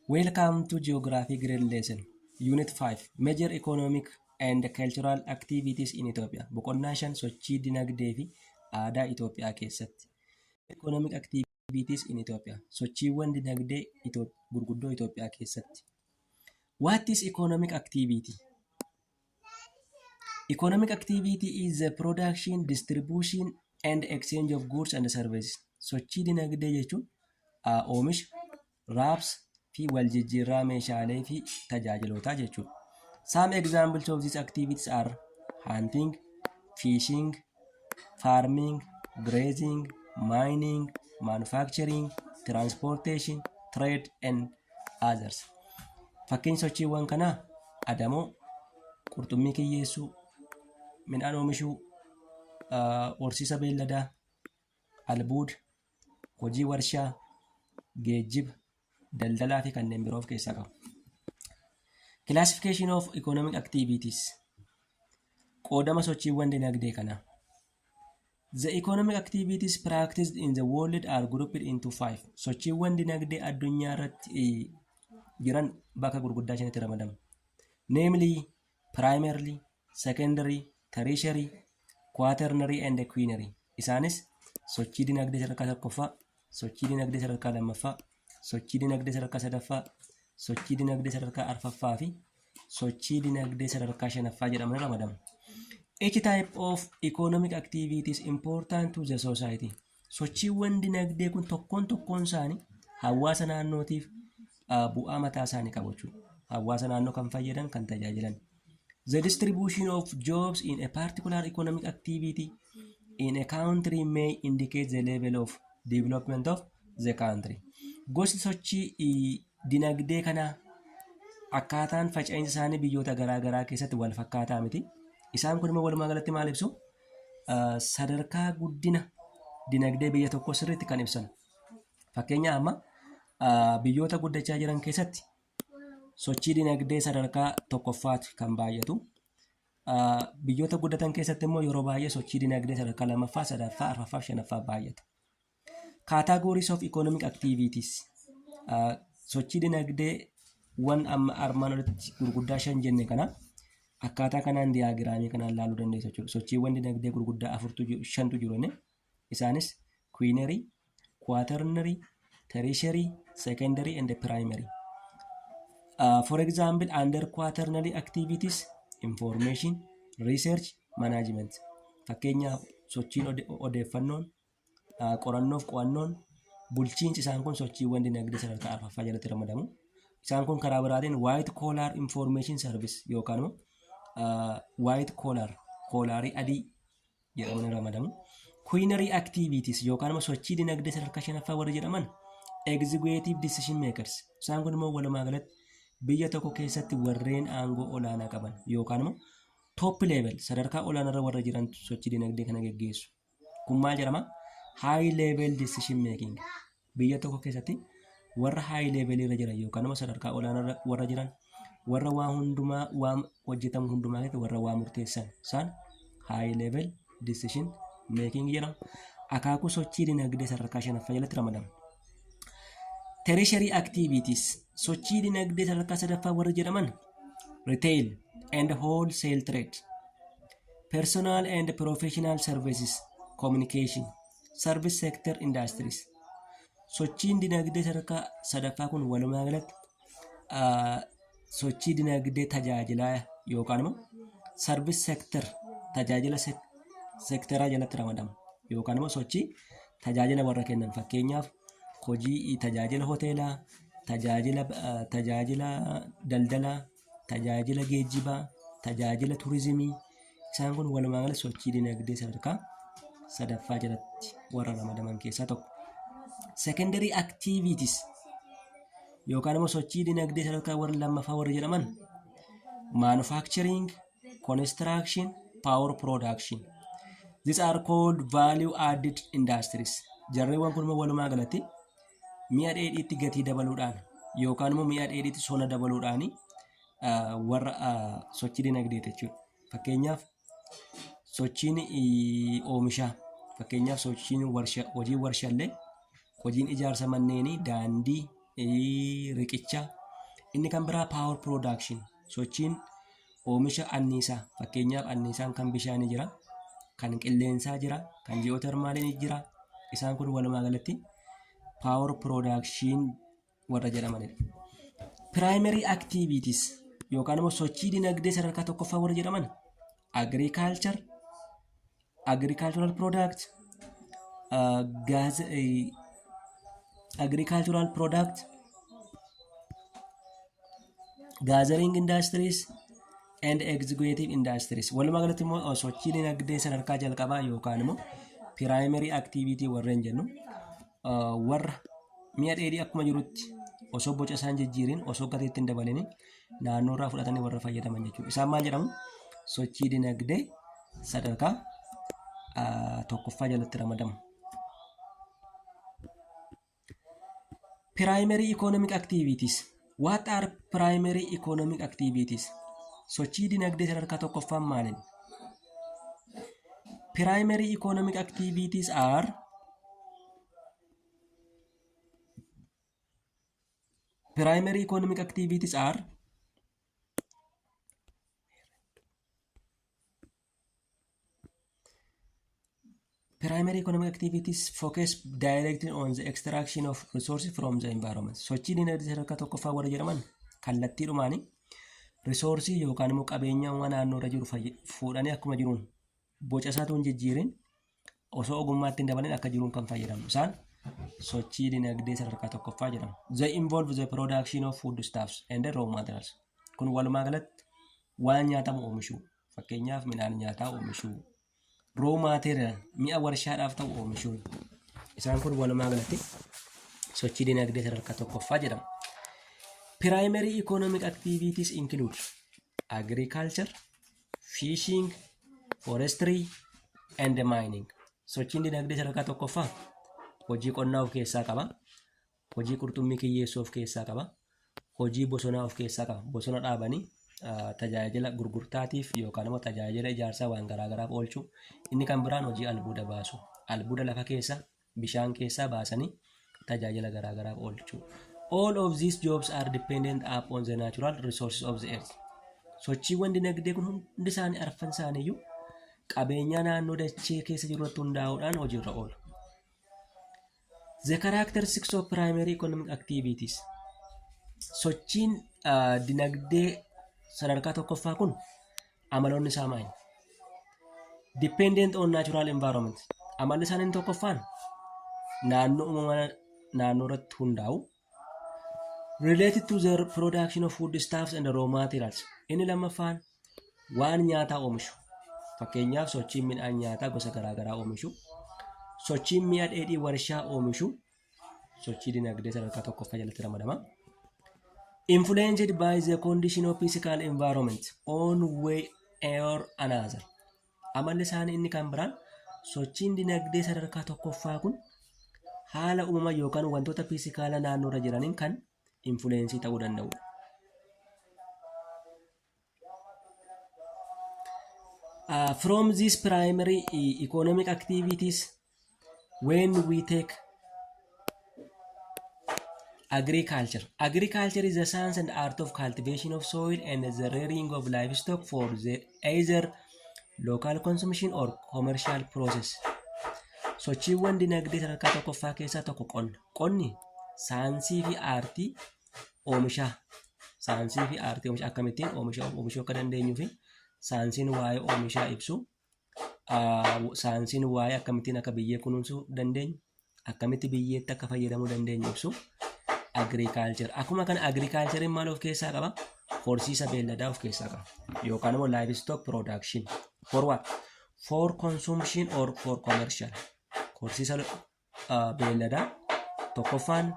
Welcome to Geography Grade Lesson Unit 5 Major Economic and Cultural Activities in Ethiopia Boqonnaa shan sochii dinagdee fi aadaa Itoophiyaa keessatti Economic Activities in Ethiopia sochiiwwan dinagdee Itoop- gurguddoo Itoophiyaa keessatti What is economic activity? Economic activity is the production, distribution and exchange of goods and services. Sochii dinagdee jechuun aa, oomisha, wraps, fi waljijjiirraa meeshaalee fi tajaajilootaa jechuudha. Some examples of these activities are hunting, fishing, farming, grazing, mining, manufacturing, transportation, trade and others. Fakkeenya sochiiwwan kanaa adamoo, qurxummii kiyyeessuu, midhaan oomishuu, ah, horsiisa beelladaa, albuuda, hojii warshaa, geejjiba, daldalaa fi kanneen biroo of keessaa qabu. Classification of economic activities qoodama sochiiwwan dinagdee kanaa. The economic activities practiced in the world are grouped into five. Sochiiwwan dinagdee addunyaa irratti eh, jiran bakka gurguddaa shanitti ramadamu. Namely, primarily, secondary, tertiary, quaternary and quinary. Isaanis sochii dinagdee sadarkaa tokkoffaa, sochii dinagdee sadarkaa lammaffaa, sochii dinagdee sadarkaa sadaffaa, sochii dinagdee sadarkaa arfaffaa fi sochii dinagdee sadarkaa shanaffaa jedhamanii ramadamu. Each type of economic activity is important to the society. Sochiiwwan dinagdee kun tokkoon tokkoon isaanii hawaasa naannootiif bu'aa mataa isaanii qabu jechuudha. Hawaasa naannoo kan fayyadan, kan tajaajilan. The distribution of jobs in a particular economic activity in a country may indicate the level of development of the country. Gosti sochii dinagdee kanaa akkaataan faca'insa isaanii biyyoota garaa garaa keessatti wal fakkaataa miti. Isaan kun immoo walumaa galatti maal ibsu? ah, sadarkaa guddina dinagdee biyya tokkoo sirriitti kan ibsan. Fakkeenyaa amma ah, biyyoota guddachaa jiran keessatti sochii dinagdee sadarkaa tokkoffaati kan baay'atu. Ah, Biyyoota guddatan keessatti immoo yeroo baay'ee sochii dinagdee sadarkaa lammaffaa, sadaffaa, arfaffaa fi shanaffaa baay'ata. Categories of economic activities sochii dinagdee wan amma armaan olitti gurguddaa shan jenne kana akkaataa kanaan diyaagiraamii kanaan laaluu dandeessu jechuudha. Sochiiwwan dinagdee gurguddaa afurtu jiru, shantu jiru inni. Isaanis queenary, quaternary, tertiary, secondary and primary. Uh, for example, under quaternary activities, information, research, management. Fakkeenyaaf sochiin ode- odeeffannoon qorannoof qo'annoon bulchiinsi isaan kun sochiiwwan dinagdee sadarkaa arfaffaa jalatti ramadamu. Isaan kun karaa biraatiin White Collar Information Service yookaan immoo White Collar koolaarii adii jedhamanii ramadamu. Queenary Activities yookaan immoo sochii dinagdee sadarkaa shanaffaa warri jedhaman Executive Decision Makers. Isaan kun immoo walumaa galatti biyya tokko keessatti warreen aangoo olaanaa qaban yookaan immoo top level sadarkaa olaanaarra warra jiran sochii dinagdee kana geggeessu. kun maal jedhama high level decision making biyya tokko keessatti warra high level irra jiran yookaan nama sadarkaa olaanaa irra warra jiran warra waa hundumaa waa hojjetamu hundumaa keessatti warra waa murteessan isaan high level decision making jedhama akaakuu sochii dinagdee sadarkaa shanaffaa jalatti ramadama. Tertiary activities sochii dinagdee sadarkaa sadaffaa warri jedhaman retail and wholesale trade personal and professional services communication service sector industries sochiin dinagdee sadarkaa sadaffaa kun walumaa galatti ah, sochii dinagdee tajaajilaa yookaan immoo service sector tajaajila sek- sektaraa jalatti ramadama yookaan immoo sochii tajaajila warra kennan fakkeenyaaf hojii tajaajila hoteelaa tajaajila ah, tajaajila daldalaa tajaajila geejjibaa, tajaajila turizimii isaan kun walumaa gala sochii dinagdee sadarkaa sadaffaa jalatti warra ramadaman keessaa tokko. Secondary activities yookaan immoo sochii dinagdee sadarkaa warra lammaffaa warri jedhaman manufacturing, construction, power production. These are called value added industries. Jarreewwan kun immoo walumaa galatti mi'a dheedhiitti gatii dabaluudhaan yookaan immoo mi'a dheedhiitti sona dabaluudhaan warra sochii dinagdeeti jechuudha. Fakkeenyaaf sochiin oomishaa fakkeenyaaf sochiin warshaa hojiin warshaallee hojiin ijaarsa manneenii daandii riqicha inni kan biraa paawar piroodaakshini sochiin oomisha anniisaa fakkeenyaaf anniisaan kan bishaanii jira kan qilleensaa jira kan ji'ootermaaliin jira isaan kun walumaa galatti paawar piroodakshiin warra jedhamanidha. Piraayimarii aktiiviitis yookaan immoo sochii dinagdee sadarkaa tokkoffaa warra jedhaman agriikaalchar agricultural product uh, gas uh, agricultural product gathering industries and executive industries walumaa galatti immoo uh, sochii dinagdee sadarkaa jalqabaa yookaan immoo primary activity warreen jennu warra mi'a dheedhii akkuma jirutti osoo boca isaan jijjiirin osoo gateetti hin dabalin naannoo irraa fudhatanii warra fayyadaman jechuudha. Isaan maal jedhamu? Sochii dinagdee sadarkaa ah, tokkoffaa jalatti ramadamu. Primary economic activities What are primary economic activities? Sochii dinagdee sadarkaa tokkoffaan maaliin? Primary economic activities are Primary economic activities are Primary economic activities focus directly on the extraction of resources from the environment. Sochii dinagdee sadarkaa tokkoffaa warra jedhaman kallattiidhumaani risoorsii yookaan immoo qabeenyawwan naannoo irra jiru fayy- fuudhanii akkuma jiruun boca isaatu hin jijjiirin osoo ogummaatti hin dabalin akka jiruun kan fayyadamu. Isaan sochii dinagdee sadarkaa tokkoffaa jedhamu. They involve the production of foodstuffs and raw materials. Kun walumaa galatti waan nyaatamu oomishuu. Fakkeenyaaf midhaan nyaataa oomishuu, raw material mi'a warshaadhaaf ta'u oomishuu. Isaan kun walumaa galatti sochii dinagdee sadarkaa tokkoffaa jedhamu. Primary economic activities include agriculture, fishing, forestry and mining. Sochiin dinagdee sadarkaa tokkoffaa hojii qonnaa of keessaa qaba. Hojii qurxummii kiyyeessuu of keessaa qaba. Hojii bosonaa of keessaa qaba. Bosona dhaabanii tajaajila gurgurtaatiif yookaan immoo tajaajila ijaarsaa waan garaa garaaf oolchu. Inni kan biraan hojii albuuda baasu. Albuuda lafa keessa bishaan keessaa baasanii tajaajila garaa garaaf oolchu. All of these jobs are dependent upon the natural resources of the earth. Sochiiwwan dinagdee kun hundi isaanii arfan isaaniiyyuu qabeenyaa naannoo dachee keessa jiru irratti hundaa'uudhaan hojiirra oolu. The characteristics of primary economic activities. Sochiin ah, dinagdee sadarkaa tokkoffaa kun amaloonni isaa maali? Dependent on natural environment. Amalli isaanii inni tokkoffaan naannoo uumama naannoo irratti hundaa'u. related to the production of food stuffs and raw materials inni lammaffaan waan nyaataa oomishu fakkeenyaaf sochiin midhaan nyaataa gosa garaagaraa oomishu sochiin mi'a dheedhii warshaa oomishu sochii dinagdee sadarkaa tokkoffaa jalatti ramadama. Influenced by the condition of physical environment on way or another Amalli isaanii inni kan biraan sochiin dinagdee sadarkaa tokkoffaa kun haala uumama yookaan wantoota fiizikaala naannoorra jiraniin kan infuleensii ta'uu danda'udha. Uh, from these primary e- economic activities, when we take agriculture. Agriculture is the science and art of cultivation of soil and the rearing of livestock for the either local consumption or commercial process. Sochiiwwan dinagdee sadarkaa tokkoffaa keessaa tokko qonna. Qonni saayinsii fi aartii oomishaa. Saayinsii fi aartii oomishaa akkamittiin oomisha oomishuu akka dandeenyuu fi saayinsiin waa'ee oomishaa ibsu saayinsiin waa'ee akkamittiin akka biyyee kunuunsuu dandeenyu akkamitti biyyeetti akka fayyadamuu dandeenyu ibsu agriikaalchar akkuma kana agriikaalchariin maal of keessaa qaba horsiisa beelladaa of keessaa qaba yookaan immoo laayivistook piroodakshin for what for consumption or for commercial horsiisa beelladaa tokkoffaan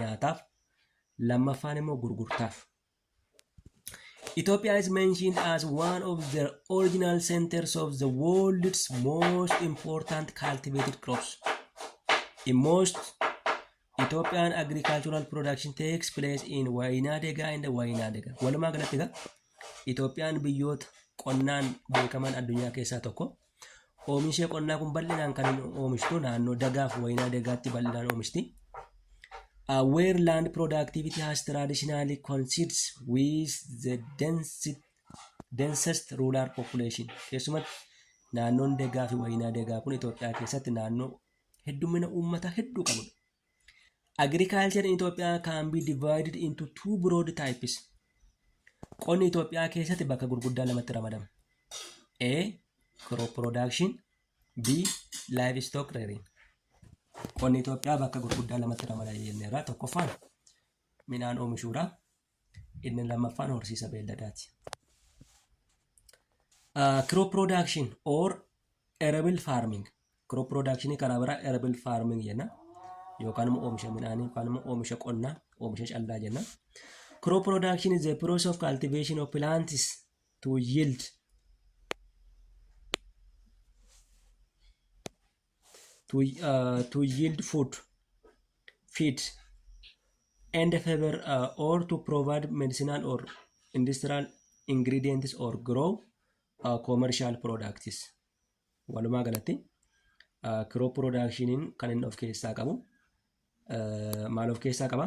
nyaataaf lammaffaan immoo gurgurtaaf Ethiopia is mentioned as one of the original centers of the world's most important cultivated crops. In most Ethiopian agricultural production takes place in Wainadega and Wainadega. Walumaa galatti egaa Itoophiyaan biyyoota qonnaan beekaman addunyaa keessaa tokko. Oomishee qonnaa kun bal'inaan kan oomishtu naannoo dagaaf wayinaa dagaatti bal'inaan oomishti. Uh, where land productivity has traditionally coincides with the density, densest rural population. Keessumatti naannoon dagaa fi wayinaa dagaa kun Itoophiyaa keessatti naannoo heddummina uummataa hedduu qabudha. Agriculture in Ethiopia can be divided into two broad types. Qonni Itoophiyaa keessatti bakka gurguddaa lamatti ramadama. A. Crop production B. Livestock rearing. Qonni Itoophiyaa bakka gurguddaa lamatti ramada jenneerra. Tokkoffaan midhaan oomishuudha. Inni lammaffaan horsiisa beelladaati. Crop production or arable farming. Crop production karaa biraa arable farming jenna. Yookaan immoo oomisha midhaanii yookaan immoo oomisha qonnaa oomisha callaa jenna. Crop production is a process of cultivation of plants to yield to, uh, to yield food feed and fiber uh, or to provide medicinal or industrial ingredients or grow uh, commercial products walumaa galatti uh, crop productioniin kan inni of keessaa qabu uh, maal of keessaa qaba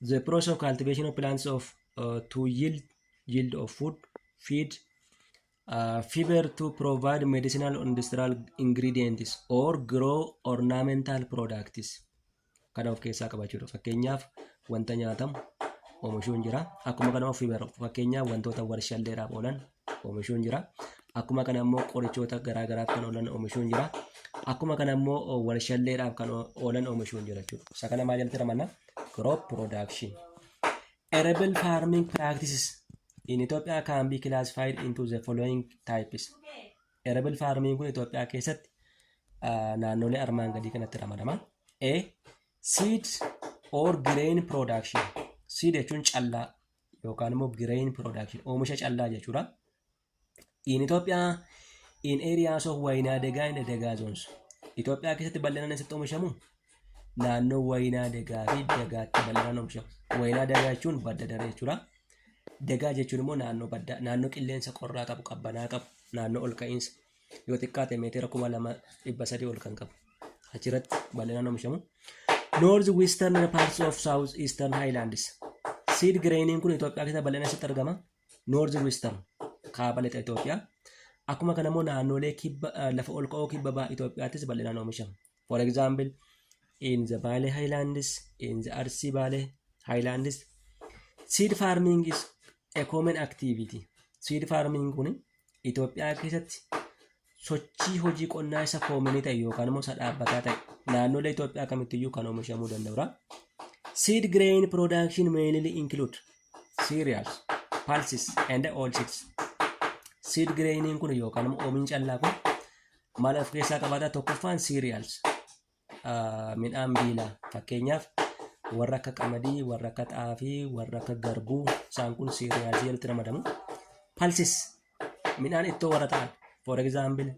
The process of cultivation of plants of uh, to yield yield of food, feed, uh, fiber to provide medicinal or industrial ingredients or grow ornamental products. Kana of keessaa qabachuudha. Fakkeenyaaf wanta nyaatamu oomishuun jira. Akkuma kana of fiber fakkeenyaaf wantoota warshalleedhaaf oolan oomishuun jira. Akkuma kana immoo qorichoota garaa garaaf kan oolan oomishuun jira. Akkuma kana immoo warshalleedhaaf kan oolan oomishuun jira jechuudha. Isa kana maal jalatti ramanna? Crop production. Arable farming practices in Ethiopia can be classified into the following types. Arable farming kun Itoophiyaa keessatti naannolee armaan gadii kanatti ramadama. A. Seed or grain production. Seed jechuun callaa yookaan immoo grain production oomisha callaa jechuudha. In Ethiopia in areas of Wayinaa Degaa and Degaa zones. Itoophiyaa keessatti bal'inaan eessatti oomishamu? Naannoo Wayinaa Degaa fi Degaatti bal'inaan oomishamu. Wayinaa Degaa jechuun badda daree jechuudha. Degaa jechuun immoo naannoo baddaa, naannoo qilleensa qorraa qabu, qabbanaa qabu, naannoo ol ka'iinsa. yoo xiqqaate meetira kuma lama dhibba sadii ol kan qabu achirratti bal'inaan oomishamu. North Western parts of South Eastern Highlands. Seed grainiin kun Itoophiyaa keessatti bal'inaan eessatti argama? North Western kaaba lixa Itoophiyaa. Akkuma kana immoo naannolee kibba eh, lafa ol ka'oo kibba baha Itoophiyaattis bal'inaan oomishama. for example in the Bale Highlands in the Arsi Bale Highlands seed farming is a common activity seed farming kun Itoophiyaa keessatti sochii hojii qonnaa isa koominii ta'e yookaan immoo isa dhaabbataa ta'e naannolee Itoophiyaa kamittiyyuu kan oomishamuu danda'udha. Seed grain production mainly include cereals, pulses and oilseeds. Seed grainiin kun yookaan immoo oomishin callaa kun maal of keessaa qabaata tokkoffaan cereals ah, midhaan biilaa fakkeenyaaf warra akka qamadii warra akka xaafii warra akka garbuu isaan kun cereals jalatti ramadamu pulses midhaan ittoo warra ta'an for example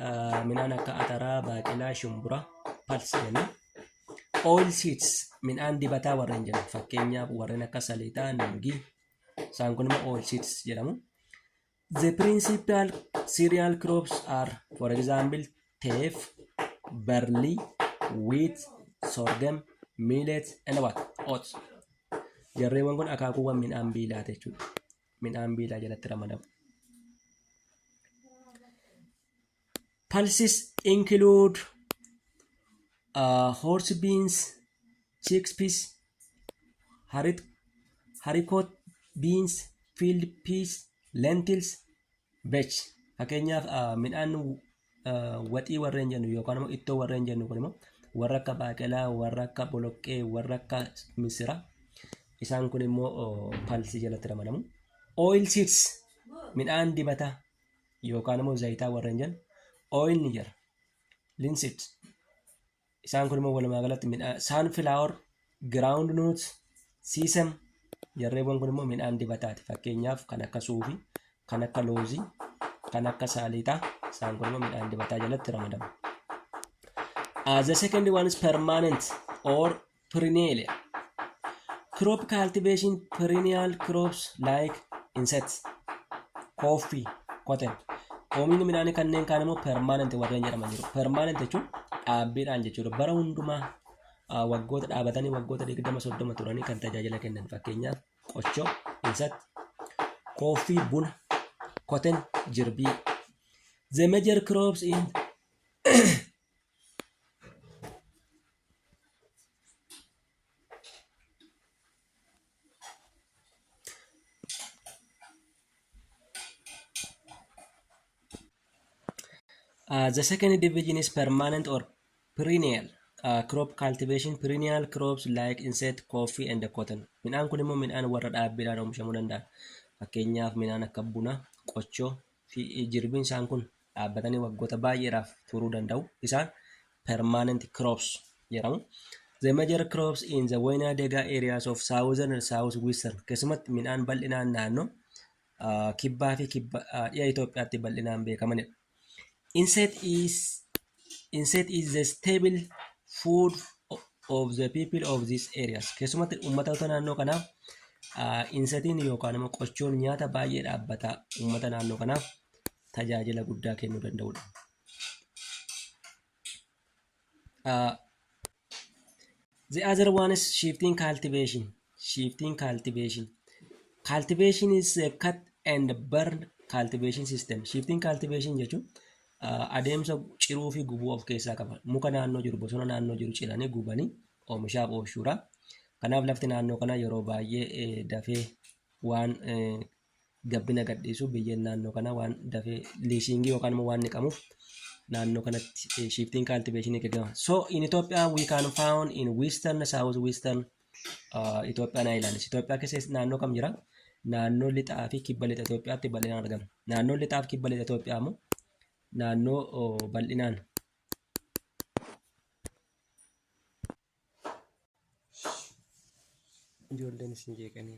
ah, midhaan akka ataraa baaqelaa shumburaa pulse jenna oil seeds midhaan dibataa warra hin jedhamu fakkeenyaaf warreen akka saliixaa nuugii isaan kun immoo oil seeds jedhamu The principal cereal crops are, for example, teff, barley, wheat, sorghum, millet, and what? Oats. Jarreewwan kun akaakuuwwan midhaan biilaa jechuudha. Midhaan biilaa jalatti ramadamu. Pulses include uh, horse beans, chickpeas, harit, haricot beans, field peas, lentils, veg. Fakkeenyaaf uh, midhaan uh, waxii warreen jennu yookaan immoo ittoo warreen jennu kun immoo warra akka baaqelaa, warra akka boloqqee, warra akka misiraa. Isaan kun immoo uh, palsii jalatti ramadamu. Oil seeds midhaan dibataa yookaan immoo zayitaa warreen jennu oil ni jira linseed isaan kun immoo walumaa galatti midhaan sunflower ground nut siisem jarreewwan kun immoo midhaan dibataati fakkeenyaaf kan akka suufii kan akka loozii kan akka saaliixaa isaan kun immoo midhaan dibataa jalatti ramadamu. As the second one is permanent or Perennial Crop cultivation perennial crops like insects, coffee, cotton. Oomishni midhaanii kanneen kaan immoo permanent warreen jedhaman jiru. Permanent jechuun dhaabbiidhaan jechuudha. Bara hundumaa ah, waggoota dhaabatanii waggoota 20 30 turanii kan tajaajila kennan fakkeenyaaf qochoo, insect, kooffii, buna, cotton, jirbii. The major crops in Uh, the second division is permanent or perennial uh, crop cultivation perennial crops like insect coffee and cotton midhaan kun immoo midhaan warra dhaabbiidhaan oomishamuu danda'a fakkeenyaaf midhaan akka buna qochoo fi jirbiin isaan kun dhaabbatanii waggoota baay'eedhaaf turuu danda'u. Isaan permanent crops jedhamu. The major crops in the wayna dega areas of southern and south western keessumatti midhaan bal'inaan naannoo uh, kibbaa fi kibba uh, dhiha Itoophiyaatti bal'inaan beekamanidha. Inset is Insect is the stable food of the people of these areas. Keessumatti uummatoota naannoo kanaaf insetiin yookaan immoo qochoon nyaata baay'ee dhaabbataa uummata naannoo kanaaf tajaajila guddaa kennuu danda'udha. The other one is shifting cultivation. Shifting cultivation. Cultivation is a cut and burn cultivation system. Shifting cultivation jechuun uh, adeemsa ciruu fi gubuu of keessaa qaba. Muka naannoo jiru, bosona naannoo jiru ciranii gubanii oomishaaf oolchuudha. Kanaaf lafti naannoo kana yeroo baay'ee eh, dafee waan eh, gabbina gadhiisu biyyeen naannoo kana waan dafee liisiingii yookaan immoo waan niqamuuf naannoo kanatti shiftiin kaaltiveeshinii gaggeeffama. So in Ethiopia we can found in western south western uh, Ethiopian islands. Ethiopia keessa naannoo kam jira? Naannoo lixaa fi kibba lixa Ethiopiaatti bal'inaan argama. Naannoo lixaa fi kibba lixa Ethiopiaa immoo naannoo oh, bal'inaan ijoolleen isin jeeqanii.